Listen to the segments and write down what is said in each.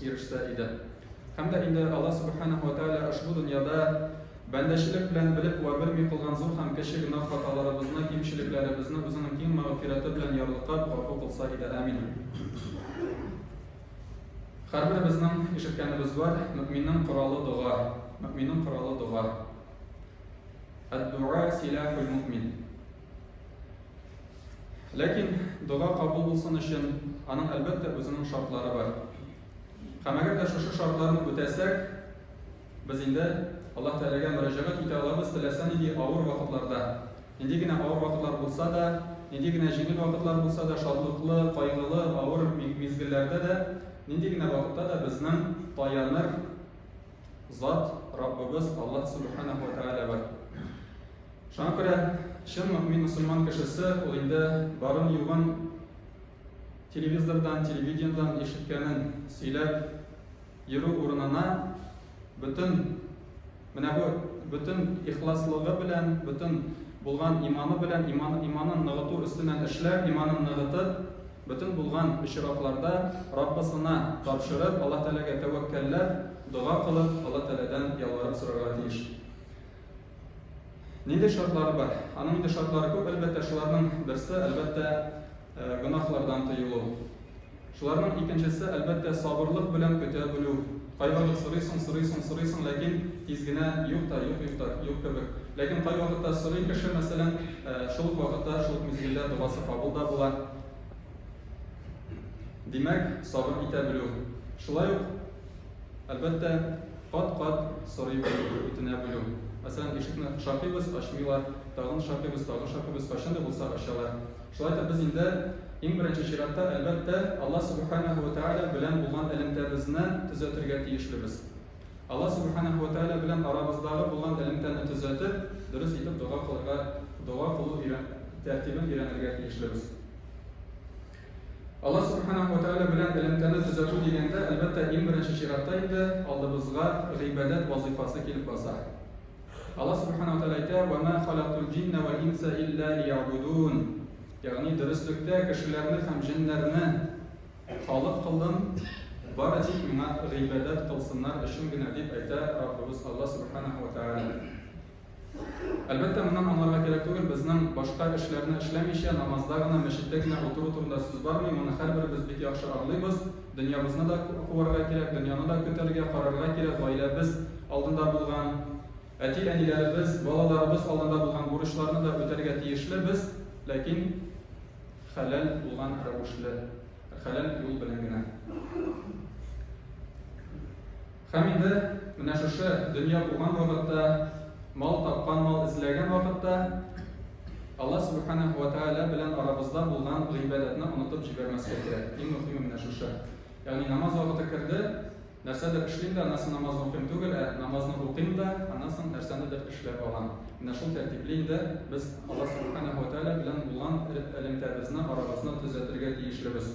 ирешсә иде. Һәм дә инде Аллаһ Субханәһу ва Тәгалә ошбу дөньяда бәндәчелек белән белеп вә белми кылган зур һәм кече гөнаһ хаталарыбызны, кимчелекләребезне Үзенең киң мәгъфирәте белән ярлыкап, гафу кылса иде. Амин. Һәрберебезнең ишеткәнебез бар, мөэминнең коралы дога. Мөэминнең коралы дога. Әд-дуа силахул мөэмин. Ләкин дога кабул булсын өчен, аның әлбәттә үзенең шартлары бар. Һәм әгәр дә шушы шартларны үтәсәк, без инде Аллаһ Тәгаләгә мөрәҗәгать итә алабыз, теләсә нинди авыр вакытларда. Нинди генә авыр вакытлар булса да, нинди генә җиңел вакытлар булса да, шатлыклы, кайгылы, авыр мизгелләрдә дә, нинди генә вакытта да безнең таяныр Зат, Раббыбыз Аллаһ Субханаху ва Тәгалә бар. Шуңа күрә чын мөмин мусульман кешесе ул инде барын югын телевизордан, телевидениедән ишеткәнен сөйләп йөрү урынына бөтен менә бу бөтен ихласлыгы белән, бөтен булган иманы белән, иман, иманын ныгыту өстеннән эшләп, иманын ныгытып, Бөтен булган очракларда Раббысына тапшырып, Алла Тәгаләгә тәвәккәлләп, дога кылып, Алла Тәгаләдән ялварып сорарга тиеш. Нинди шартлары бар? Аның инде шартлары күп, әлбәттә, шуларның берсе, әлбәттә, э, гөнаһлардан тыелу. Шуларның икенчесе, әлбәттә, сабырлык белән көтә белү. Кайвакыт сорыйсың, сорыйсың, сорыйсың, ләкин тиз генә юк та, юк, юк та, юк кебек. Ләкин кайвакытта сорый кеше, мәсәлән, шул ук вакытта, шул ук мизгелдә догасы кабул да була. Димәк, сабыр итә белү. Шулай ук, әлбәттә, кат-кат сорый белү, үтенә белү. Мәсәлән, ишекне шакыйбыз, ачмыйлар, тагын шакыйбыз, тагын шакыйбыз, кайчан да булса ачалар. Шулай итеп, без инде, иң беренче чиратта, әлбәттә, Аллаһ Сүбхәнәһү вә Тәгалә белән булган элемтәбезне төзәтергә тиешлебез. Аллаһ Сүбхәнәһү вә Тәгалә белән арабыздагы булган элемтәне төзәтеп, дөрес итеп дога кылырга, дога кылу өйрән, тәртибен өйрәнергә тиешлебез. Аллаһ Сүбхәнәһү вә Тәгалә белән элемтәне төзәтү дигәндә, әлбәттә, иң беренче чиратта инде алдыбызга гыйбадәт вазыйфасы килеп баса. Аллаһ Субхана ва Тәгалә әйтә, Ва ма халактул җинна вәл инса илля лиябудун. Ягъни, дөреслектә, кешеләрне һәм җеннәрне халык кылдым, бары тик миңа гыйбадәт кылсыннар өчен генә, дип әйтә Раббыбыз Аллаһ Субхана ва Тәгалә. Әлбәттә, моннан аңларга кирәк түгел, безнең башка эшләрне эшләмичә, намазда гына, мәчеттә генә утыру турында сүз бармый, моны һәрберебез бик яхшы аңлыйбыз. Дөньябызны да куарга кирәк, дөньяны да көтәргә, карарга кирәк, гаиләбез алдында булган, әти-әниләребез, балаларыбыз алдында булган бурычларны да үтәргә тиешле без, ләкин хәләл булган рәвешле, хәләл юл белән генә. Һәм инде менә шушы дөнья булган вакытта, мал тапкан, мал эзләгән вакытта Аллаһ Сүбхәнәһү вә Тәгалә белән арабызда булган гыйбадәтне онытып җибәрмәскә кирәк. Иң мөһиме менә шушы. Ягъни намаз вакыты керде, нәрсәдер эшлим дә, аннан соң намазны укыйм түгел, ә намазны укыйм да, аннан соң нәрсәнедер эшләп алам. Менә шул тәртипле инде без Аллаһ Сүбхәнәһү вә Тәгалә белән булган элемтәбезне, арабызны төзәтергә тиешлебез.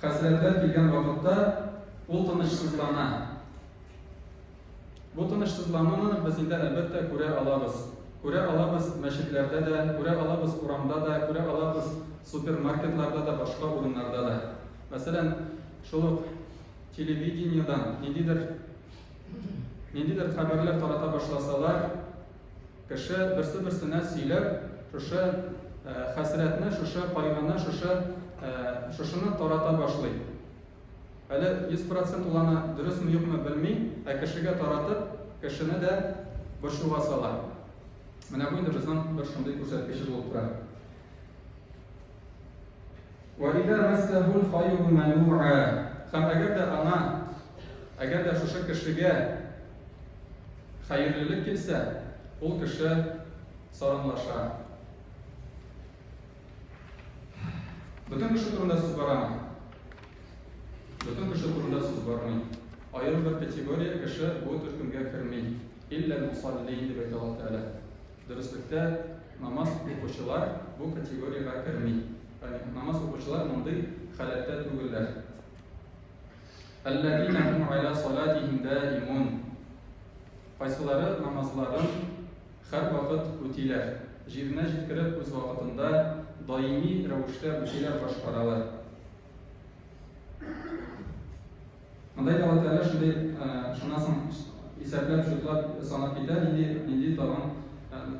Хәсрәтләр килгән вакытта ул тынычсызлана. Бу тынычсызлануны без инде, әлбәттә, күрә алабыз. Күрә алабыз мәчетләрдә дә, күрә алабыз урамда да, күрә алабыз супермаркетларда да, башка урыннарда да. Мәсәлән, шул ук телевидениедән ниндидер, ниндидер хәбәрләр тарата башласалар, Кеше берсе-берсенә сөйләп, шушы хәсрәтне, шушы кайгыны, шушы шушыны тарата башлый. Әле 100 процент ул аны дөресме юкмы белми, ә кешегә таратып, кешене дә борчуга сала. Менә бу инде безнең бер шундый күрсәткечебез булып тора. Вә иза мәссәһул хаиру мәнуа һәм әгәр дә аңа, әгәр дә шушы кешегә хәерлелек килсә, ул кеше саранлаша. Бөтен кеше турында сүз барамы? Бөтен кеше турында сүз бармый. Аерым бер категория кеше бу төркемгә керми. Илләл мусаллин дип әйтә Аллаһ Тәгалә. Дөреслектә, намаз укучылар бу категориягә керми. Ягъни намаз укучылар мондый халәттә түгелләр. Әлләзина һум аля салатихим даимун. Кайсылары намазларын һәр вакыт үтиләр, җиренә җиткереп үз вакытында даими рәвештә үтиләр, башкаралар. Мындай да вәкалә шундый, шуннан соң исәпләп, шутлап, санап китә, нинди, нинди тагын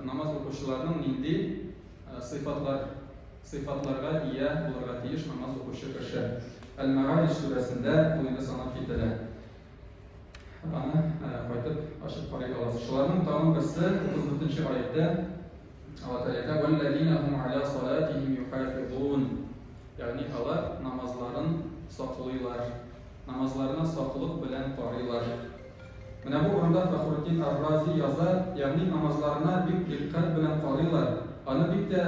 намаз укучыларның нинди сыйфатлар, сыйфатларга ия булырга тиеш намаз укучы кеше. Әл-Мәгариш сүрәсендә бу инде санап кителә. Аны кайтып ачып карый аласыз. Шуларның тагын берсе 34 нче аятьтә Алаталета валлазина хум аля салатихим юхафизун. Ягъни алар намазларын саклыйлар. Намазларына саклык белән карыйлар. Менә бу урында Фахруддин Ар-Рази яза, ягъни намазларына бик дикъкать белән карыйлар, аны бик тә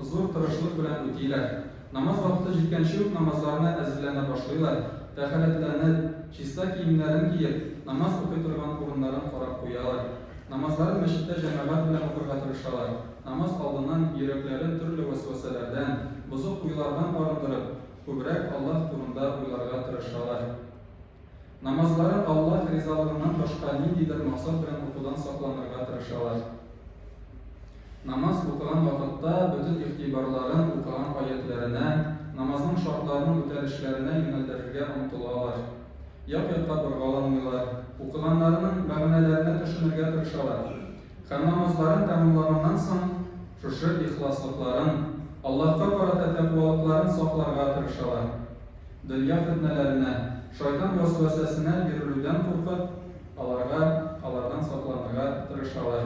зур тырышлык белән үтиләр. Намаз вакыты җиткәнче үк намазларына әзерләнә башлыйлар, тәһарәтләнеп, чиста киемнәрен киеп, намаз укый торган урыннарын карап куялар. Намазларын мәчеттә җәмәгать белән укырга тырышалар. Намаз алдыннан йөрәкләрен төрле вәсвәсәләрдән, бозык уйлардан арындырып, күбрәк Аллаһ турында уйларга тырышалар. Намазларын Аллаһ ризалыгыннан башка ниндидер максат белән укудан сакланырга тырышалар. Намаз укыган вакытта бөтен игътибарларын укыган аятьләренә, намазның шартларының үтәлешләренә юнәлдерергә омтылалар. Як-якка боргаламыйлар, укыганнарының мәгънәләренә төшенергә тырышалар һәм намазларын тәмамлаганнан соң шушы ихласлыкларын, Аллаһка карата тәкъвалыкларын сакларга тырышалар. Дөнья фетнәләренә, шайтан вәсвәсәсенә бирелүдән куркып, аларга, алардан сакланырга тырышалар.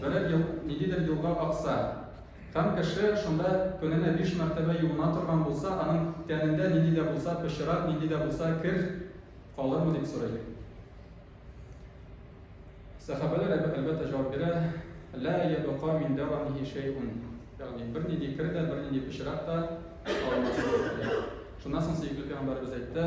Берәр ел, ниндидер юлга акса һәм кеше шунда көненә биш мәртәбә юына торган булса, аның тәнендә нинди дә булса пычрак, нинди дә булса кер калырмы дип сорыйк. Сәхабәләр әлбәттә җавап бирә, лә ябыка мин дәвамихи шәйун. Ягъни бер нинди кер дә, бер нинди пычрак та калмас. Шуннан соң сөекле пәйгамбәрбез әйтте,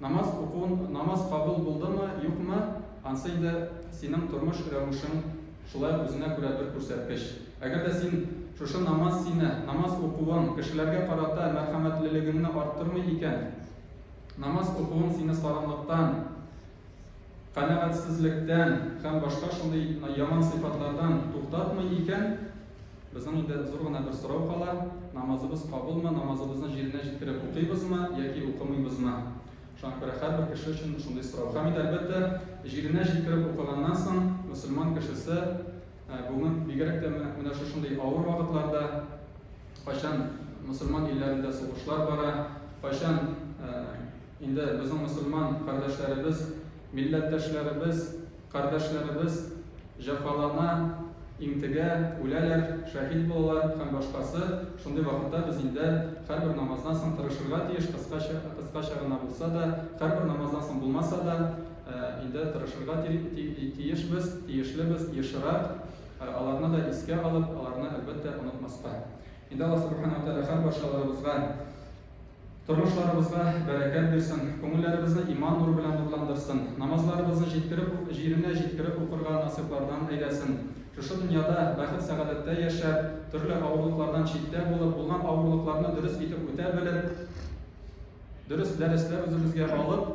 Намаз укуын, намаз кабул булдымы, юкмы, ансы инде синең тормыш рәвешең шулай үзенә күрә бер күрсәткеч. Әгәр дә син шушы намаз сине, намаз укуың кешеләргә карата мәрхәмәтлелегеңне арттырмый икән, намаз укуың сине саранлыктан, канәгатьсезлектән һәм башка шундый яман сыйфатлардан туктатмый икән, Безнең инде зур гына бер сорау кала, намазыбыз кабулмы, намазыбызны җиренә җиткереп укыйбызмы яки укымыйбызмы? Шуңа күрә һәрбер кеше өчен шундый сорау. Һәм инде, әлбәттә, җиренә җиткереп укыганнан соң мөселман кешесе бүген бигрәк тә менә шушындый авыр вакытларда, кайчан мөселман илләрендә сугышлар бара, кайчан инде безнең мөселман кардәшләребез, милләттәшләребез, Кардәшләребез җәфалана, интегә, үләләр, шәһит булалар һәм башкасы Шундый вакытта без инде һәрбер намаздан соң тырышырга тиеш, кыскача, кыскача гына булса да, һәрбер намаздан соң булмаса да, инде тырышырга тиешбез, тиешлебез ешрак, аларны да искә алып, аларны, әлбәттә, онытмаска. Инде Аллаһ Субхана ва Тәгалә һәрбарчаларыбызга. Тормышларыбызга бәрәкәт бирсен, күңелләребезне иман нуры белән нурландырсын, намазларыбызны җиткереп ук, җиренә җиткереп укырга насыйплардан әйләсен. Шушы дөньяда бәхет-сәгадәттә яшәп, төрле авырлыклардан читтә булып, булган авырлыкларны дөрес итеп үтә белеп, дөрес дәресләр үзебезгә алып,